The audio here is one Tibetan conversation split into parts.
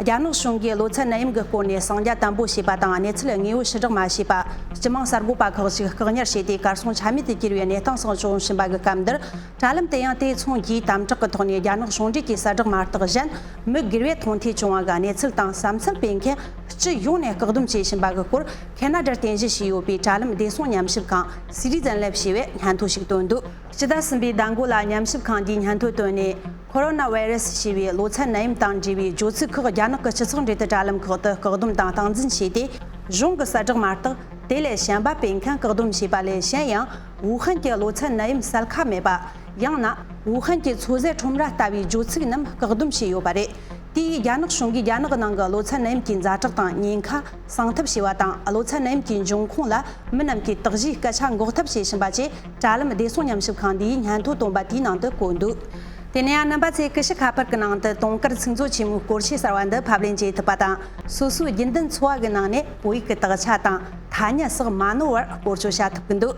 རྒྱ་ནག་གཞུང་གིས་ལོ་ཚད་ནད་ཡམས་ཀྱི་སྐོར་ནས་གསང་རྒྱ་དམ་པོ་བྱས་པ་དང་གནས་ཚུལ་དངོས་པོ་ཕྱི་བསྒྲགས་མ་བྱས་པ། སྤྱི་དམངས་གསར་འགོད་པ་ཁག་ཅིག་བཀག་ཉར་བྱས་ཏེ་གར་སོང་ཆ་མེད་དུ་གྱུར་བའི་གནས་སྟངས་སོགས་བྱུང་བཞིན་པ་གི་སྐབས་འདིར། དྲ་ལམ་དེ་ཡང་དེ་མཚུངས་ཀྱིས་དམ་དྲག་གི་ཐོག་ནས་རྒྱ་ནག་གཞུང་འབྲེལ་གྱི་གསལ་བསྒྲགས་མ་བརྟགས་གཞན། མི་སྒེར་བས་མཐོང་ཐོས་བྱུང་བ་གི་གནས་ཚུལ་དང་བསམ་ཚུལ་སྤེལ་མཁན་སྤྱི་ཡོངས་ནས་བཀག་སྡོམ་བྱེད་བཞིན་པ་གི་སྐོར་གྷེ་ན་ཏྲར་རྟེན་གཞི་བྱས་ཡོད་པའི་དྲ་ལམ་བདེ་སྲུང་ཉམས་ཞིབ་ཁང Citizen Lab ཞེས་པས་སྙན་ཐོ་ཞིག་བཏོན་འདུག་སྤྱི་ཟླ་གསུམ་པའི་ཟླ་མགོ་ལ་ཉམས་ཞིབ་ཁང་འདིས་སྙན་ཐོ་བཏོན་ནས། ཁོ་རོ་ན་བྷའི་རེ་སི་ཞེས་པའི་གློ་ཚད་ནད་ཡམས་དང་འབྲེལ་བའི་རྗོད་ཚིག་ཁག་རྒྱ་ནག་གི་སྤྱི་ཚོགས་འབྲེལ་དུ་དྲ་ལམ་ཁག་ཏུ་བཀག་སྡོམ་དང་སྟངས་འཛིན་བྱས་ཏེ། གཞུང་གི་གསལ་བསྒྲགས་མ་གཏོགས་དེ་ལས་གཞན་པ་སྤེལ་མཁན་བཀག་སྡོམ་བྱས་པ་ལས་གཞན་ཡང་ཝུ་ཧན་གྱི་གློ་ཚད་ནད་ཡམས་གསལ་ཁ་མེད་པ། ཡང་ན་ཝུ་ཧན་གྱི་ཚོད་ཟས་ཁྲོམ་ར་ལྟ་བུའི་རྗོད་ཚིག་རྣམས་བཀག་སྡོམ་བྱས་ཡོད་པ་རེད། དེ་ཡིས་རྒྱ་ནག་གཞུང་གིས་རྒྱ་ནག་ནང་གི་གློ་ཚད་ནད་ཡམས་ཀྱི་མཛའ་གྲགས་དང་ཉེན་ཁ་སངས་ཐབས་བྱས་པ་དང་གློ་ཚད་ནད་ཡམས་ཀྱི་འབྱུང་ཁུངས་ལ་མི་རྣམས་ཀྱིས་དག་གཞིའི་སྐད་ཆ་འགོག་ཐབས་བྱེད་བཞིན་པ་བཅས། དྲ་ལམ་བདེ་སྲུང་ཉམས་ཞིབ་ཁང་འདིའི་སྙན་ཐོ་བཏོན་པ་དེའི་ནང་དུ་བཀོད་འདུག་དེ་ནས་ཡང་རྣམ་པ་ཚོས་ཀི་ཤི་ཁ་པར་གྱི་ནང་དུ་དུང་དཀར་ཚིག་མཛོད་ཆེན་མོའི་སྐོར་ཆེས་གསར་བ་འདི་ཕབ་ལེན་བྱེད་ཐུབ་པ་དང་སོ་སོའི་རྒྱུན་ལྡན་འཚོ་བ་གི་ནང་ནས་བོད་ཡིག་གི་དག་ཆ་དང་ཐ་སྙད་སོགས་མ་ནོར་བར་བཀོལ་སྤྱོད་བྱ་ཐུབ་ཀྱི་འདུག་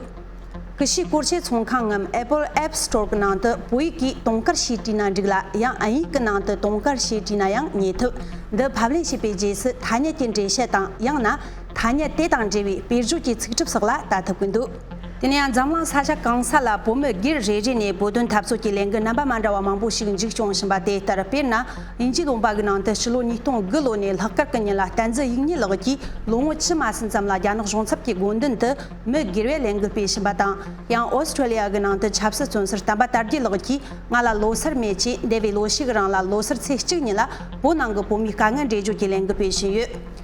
ཀི་ཤི་སྐོར་ཆེད་ཚོང་ཁང་ངམ Apple App Store གི་ནང་དུ་བོད་ཡིག་གིས་དུང་དཀར་ཞེས་བྲིས་ན་འགྲིག་ལ་ཡང་ཨིན་ཡིག་གི་ནང་དུ་དུང་དཀར་ཞེས་བྲིས་ན་ཡང་རྙེད་ཐུབ་འདི་ཕབ་ལེན་བྱས་པའི་རྗེས་སུ་ཐ་སྙད་ཀྱི་འགྲེལ་བཤད་དང་ཡང་ན་ཐ་སྙད་དེ་དང་འབྲེལ་བའི་དཔེར་བརྗོད་ཀྱི་ཚིག་གྲུབ་སོགས་ལ་ལྟ་ཐུབ་ཀྱི་འདུག། དེ་ནས་ཡང་འཛམ་གླིང་ས་ཆ་གང་ས་ལ་བོད་མི་སྒེར་རེ་རེ་ནས་བོད་དོན་འཐབ་རྩོད་ཀྱི་ལས་འགུལ་རྣམ་པ་མ་འདྲ་བ་མང་པོ་ཞིག་འཇིགས་སྐྱོང་བཞིན་པ་དེ་ལྟར་དཔེར་ན་ཉིན་གཅིག་ལོངས་པ་གི་ནང་དུ་ཕྱི་ལོ་ཉིས་སྟོང་དགུ་ལོ་ནས་ལྷག་དཀར་གི་ཉིན་ལ་བསྟན་འཛིན་ཡིག་རྙིང་ལགས་ཀྱིས་ལོ་ངོ་ཕྱི་མ་ཟིན་ཙམ་ལ་རྒྱ་ནག་གཞུང་ཚབ་ཀྱི་དགོན་མདུན་དུ་མི་སྒེར་བའི་ལས་འགུལ་སྤེལ་བཞིན་པ་དང་ཡང Australia གི་ནང་དུ་ཆབ་སྲིད་བཙོན་ཟུར་དམ་པ་དར་རྒྱས་ལགས་ཀྱིས་ང་ལ་ལོ་སར་མེད་ཅེས་འདས་པའི་ལོ་ཞིག་གི་རང་ལ་ལོ་སར་ཚེས་གཅིག་ཉིན་ལ་བོད་ནང་གི་བོད་མིའི་དཀའ་ངལ་འགྲེལ་བརྗོད་ཀྱི་ལས་འགུལ་སྤེལ་བཞིན་ཡོད།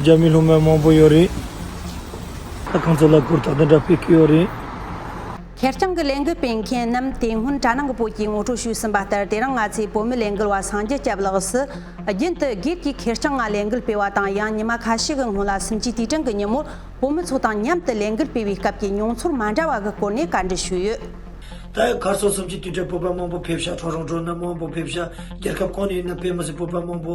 རྒྱ་མི་སློབ་མ་མང་པོ་ཡོད་རེད། ས་ཁང་ཚོ་ལ་སྐོར་ཐག་དེ་འདྲ་སྤེལ་གི་ཡོད་རེད། ཁེར་རྐྱང་གི་ལས་འགུལ་སྤེལ་མཁན་རྣམས་དེ་སྔོན་གྲ་ནང་གི་བོད་ཀྱི་ངོ་སྤྲོད་ཞུས་ཟིན་པ་ལྟར་དེ་རིང་ང་ཚོའི་བོད་མི་ལས་འགུལ་བ་སངས་རྒྱས་སྐྱབས་ལགས་སུ་རྒྱུན་དུ་སྒེར་གྱི་ཁེར་རྐྱང་ངང་ལས་འགུལ་སྤེལ་བ་དང་ཡང་ཉི་མ་ཁ་ཤས་ཀྱི་སྔོན་ལ་སུམ་ཅུའི་དུས་དྲན་གྱི་ཉིན་མོར་བོད་མི་ཚོ་དང་མཉམ་དུ་ལས་འགུལ་སྤེལ་བའི་སྐབས་ཀྱི་མྱོང་ཚོར་མ་འདྲ་བ་གི་སྐོར་ནས་བཀའ་འདྲི་ཞུས་ཡོད། ད་ཡང་གར་སོང་སུམ་ཅུའི་དུས་དྲན་སྤོབས་པ་མང་པོ་ཕེབས་ཤག་གྲོགས་རང་གྲོགས་རྣམས་མང་པོ་ཕེབས་ཤག་རྒྱལ་ཁབ་གང་ནས་ཡིན་ན་བོད་མི་ཚོས་སྤོབས་པ་མང་པོ་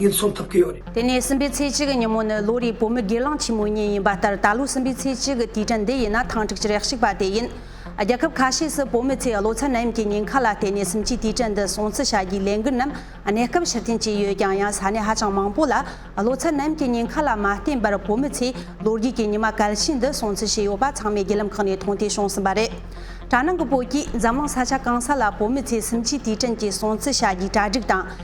ངས་འཚོང་ཐུབ་ཀྱི་ཡོད་རེད། དེ་ནས་སྲིན་པོའི་ཚེས་གཅིག་གི་ཉིན་མོ་ནི་ལོ་རེའི་བོད་མི་སྒེར་ལངས་ཆེན་མོའི་ཉིན་ཡིན་པ་ལྟར་ད་ལོའི་སྲིན་པོའི་ཚེས་གཅིག་གི་དུས་དྲན་འདི་ཡིན་ན་ཐང་ཕྲུག་ཅི་རེག་ཞིག་པ་དེ་ཡིན། རྒྱལ་ཁབ་ཁ་ཤས་སུ་བོད་མི་ཚོས་བློ་ཚད་ནད་ཡམས་ཀྱི་ཉེན་ཁ་ལ་བརྟེན་ནས་སུམ་ཅུའི་དུས་དྲན་འདི་སྲུང་བརྩི་བྱ་རྒྱུའི་ལས་འགུལ་རྣམས་གནས་སྐབས་ཕྱིར་འཐེན་བྱས་ཡོད་ཀྱང་ཡང་ས་གནས་ཧ་ཅང་མང་པོ་ལ་བློ་ཚད་ནད་ཡམས་ཀྱི་ཉེན་ཁ་ལ་མ་བརྟེན་པར་བོད་མི་ཚོས་ལོ་རྒྱུས་ཀྱི་ཉི་མ་གལ་ཆེན་འདི་སྲུང་བརྩི་བྱས་ཡོད་པ་ཚང་མས་བརྒྱུད་ལམ་ཁག་ནས་མཐོང་ཐོས་བྱུང་ཟིན་པ་རེད། གྲ་ནང་གི་བོད་ཀྱིས་འཛམ་གླིང་ས་ཆ་གང་ས་ལ་བོད་མི་ཚོས་སུམ་ཅུའི་དུས་དྲན་གྱི་སྲུང་བརྩི་བྱ་རྒྱུའི་གྲ་སྒྲིག་དང།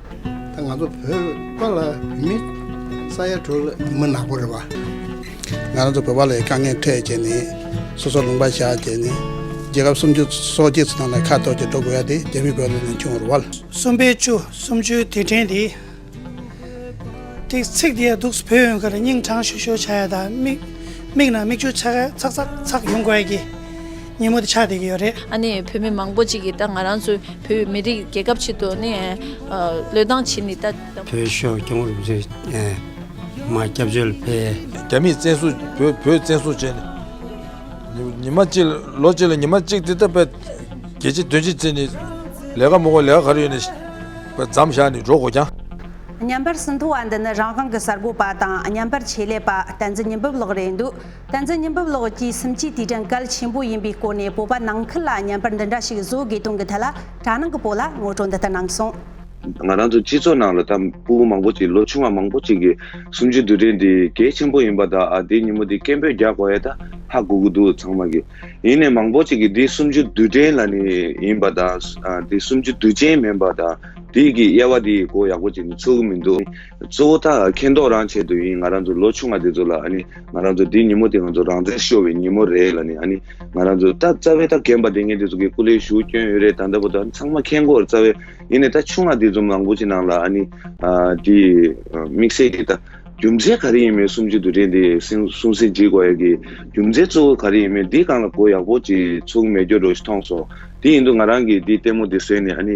ད་ང་ཚོ་བོད་པ་ལ་བོད་མི་ས་ཡ་དྲུག་ལ་མི་ནག་པོ་རེད་བ། ང་རང་ཚོ་བོད་པ་ལ་ཡི་དཀའ་ངལ་འཕྲད་རྗེས་ནས་སོ་སོ་ལུང་པ་བཞག་རྗེས་ནས་རྒྱལ་ཁབ་སུམ་ཅུ་སོ་གཅིག་སོ་ནང་ལ་ཁ་གཏོར་གྱིས་འགྲོ་དགོས་ཡ་དེ་རྒྱ་མི་བོད་ལ་ནས་བྱུང་བར་བ། གསུམ་པའི་བཅུ་གསུམ་བཅུའི་དུས་དྲན་དེ། དེའི་ཚིག་དེ་ཡ་འདུག་བོད་ཡོན་ཁར་སྙིང་དྲང་ཞུ་ཞུ་བྱ་ཡ་དང་མིག་མིག་ནང་མིག་ཆུ་ཆག་ཚག་ཚག་ཚག་ཡོང་དགོས་ཡ་གི། སྙན་མོ་དེ་ཆགས་བསྡད་ཀྱི་ཡོད་རེད། ཨ་ནི་བོད་མི་མང་པོ་གཅིག་གིས་ད་ང་རང་ཚོ་བོད་མི་རིགས་རྒྱལ་ཁབ་ཆེད་དུ་ནི་བློས་བཏང་བྱས་ནས་ད། བོད་ཤོག་སྐྱོང་རུ་ཚོས་མ་སྐྱབས་བཅོལ་སྤེལ། རྒྱ་མིས་བཙན་བཟུང་བོད་བོད་བཙན་བཟུང་བྱས་ནས་ཉི་མ་གཅིག་ལོ་གཅིག་ལ་ཉི་མ་གཅིག་འདི་ལྟར་བས་རྒྱལ་སྤྱི་དོན་སྤྱི་བརྩི་ནས་ལས་ཀ་མོག་གོ་ལས་ཀ་ག་རེ་ཡོད་ནས་བརྫམ་བཞག་ནས་འགྲོ་དགོས་ཀྱང། བརྙན་པར་ཟིན་ཐོ་བ་འདི་ནི་རང་དབང་གི་གསར་འགོད་པ་དང་བརྙན་པར་ཆེད་ལས་པ་བསྟན་འཛིན་ཉི་འབུམ་ལགས་རེད་འདུག་བསྟན་འཛིན་སྙིང་པོ་ལགས་ཀྱིས་སུམ་བཅུའི་དུས་དྲན་སྐལ་ཆེན་པོ་ཡིན་པའི་སྐོར་ནས་སྤོབས་པ་ནང་ཁུལ་ལ་བརྙན་པར་འདི་འདྲ་ཞིག་བཟོ་དགོས་དོན་གྱི་ཐད་ལ་དྲ་ནང་གི་བོད་ལ་ངོ་སྤྲོད་འདི་ལྟར་གནང་སོང། ང་རང་ཚོའི་སྤྱི་ཚོགས་ནང་ལ་ད་སྤུ་བོ་མང་པོ་ཅིག་ལོ་ཆུང་བ་མང་པོ་ཅིག་གིས་སུམ་བཅུའི་དུས་དྲན་འདི་གལ་ཆེན་པོ་ཡིན་པ་དང་ཨ་དེའི་ཉིན་མོ་འདི་སྐད་འབོད་རྒྱག་དགོས་ཨེ་ད་ཧ་གོ་གི་འདུག་ཚང་མ་གིས། ཡིན་ནས་མང་པོ་ཅིག་གིས་འདི་སུམ་བཅུ་དུས་དྲན་ལ་ནི་ཡིན་པ་དང་དེ་སུམ་བཅུ་དུས་ཆེན་མིན་པ་དང་དེའི་གི་དབྱེ་བ་དེའི་གོ་ཡག་པོ་ཅིག་ནི་ཆོད་གི་མི་འདུག། གཙོ་བོ་ད་མཁས་མདོག་རང་བྱས་དུས་ཡིན་ང་རང་ཚོ་ལོ་ཆུང་བ་དེ་ཚོ་ལ་ཨ་ནི་ང་རང་ཚོ་འདི་ཉིན་མོ་དེ་ང་ཚོ་རང་བཙན་ཤོར་བའི་ཉིན་མོ་རེད་ལ་ནི་ཨ་ནི་ང་རང་ཚོ་ད་རྩ་བའི་ད་རྒན་པ་དེ་ངེད་དེ་ཚོ་གི་སྐུ་ལས་ཞུགས་སྐྱོན་ཡོད་རེད་ད་ལྟ་བུ་ད་ཚང་མ་མཁས་མགོར་རྩ་བའི་ཡིན་ནས་ད་ཆུང་མ་དེ་ཚོ་མང་པོ་ཅི་ནང་ལ་ཨ་ནི་དེ་དམིགས་བསལ་གྱི་ད་རྒྱུ་མཚན་ག་རེ་ཡིན་མེད་གསུམ་བཅུ་དུ་རེད་འདི་གསུང་སེ་འཇིགས་བ་ཡ་གི་རྒྱུ་མཚན་གཙོ་བོ་ག་རེ་ཡིན་མེད་འདི་གང་ལ་གོ་ཡག་པོ་ཅིག་ཚུགས་མེད་རྒྱུ་རོ་ཞིག་ཐོངས་སོ། དེ་ཡིན་དུ་ང་རང་གིས་འདི་ལྟད་མོ་འདི་བཟོས་ནས་ཨ་ནི།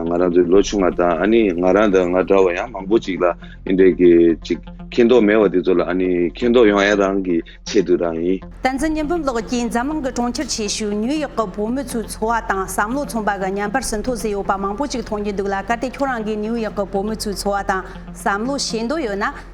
ང་རང་ཚོའི་ལོ་ཆུང་བ་དང་ཨ་ནི་ང་རང་དང་ང་འདྲ་བ་ཡང་མང་པོ་ཅིག་ལ་འི་འདྲའི་གི་ཅིག་མཁྱེན་རྟོགས་མེད་བ་འདི་ཚོ་ལ་ཨ་ནི་མཁྱེན་རྟོགས་ཡོང་ཨེ་རང་གི་ཆེད་དུ་རང་ཡིན། བསྟན་འཛིན་ཉི་འབུམ་ལགས་ཀྱིས་འཛམ་གླིང་གི་གྲོང་ཁྱེར་ཆེ་ཤོས་ནིའུ་ཡོག་གི་བོད་མི་ཚོའི་འཚོ་བ་དང་བསམ་བློ་མཚུངས་པ་ག་ཉམས་པར་ཟིན་ཐོ་བཟོས་ཡོད་པ་མང་པོ་ཅིག་མཐོང་རྒྱུ་འདུག་ལ་གལ་ཏེ་ཁྱོད་རང་གིས་ནིའུ་ཡོག་གི་བོད་མི་ཚོའི་འཚོ་བ་དང་བསམ་བློ་ཤེས་འདོད་ཡོད་ན།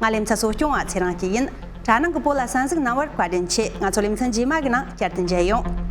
ང་ལེ་ཚ་གསོ་སྐྱོང་བ་ཚེ་རང་སྐྱིད་ཡིན། གྲ་ནང་གི་པོ་ལ་ས་འཛུགས་གནང་བར་བཀའ་དྲིན་ཆེ་ང་ཚོ་ལེ་ཚན་རྗེས་མ་གི་ནང་བསྐྱར་དུ་མཇལ་ཡོང།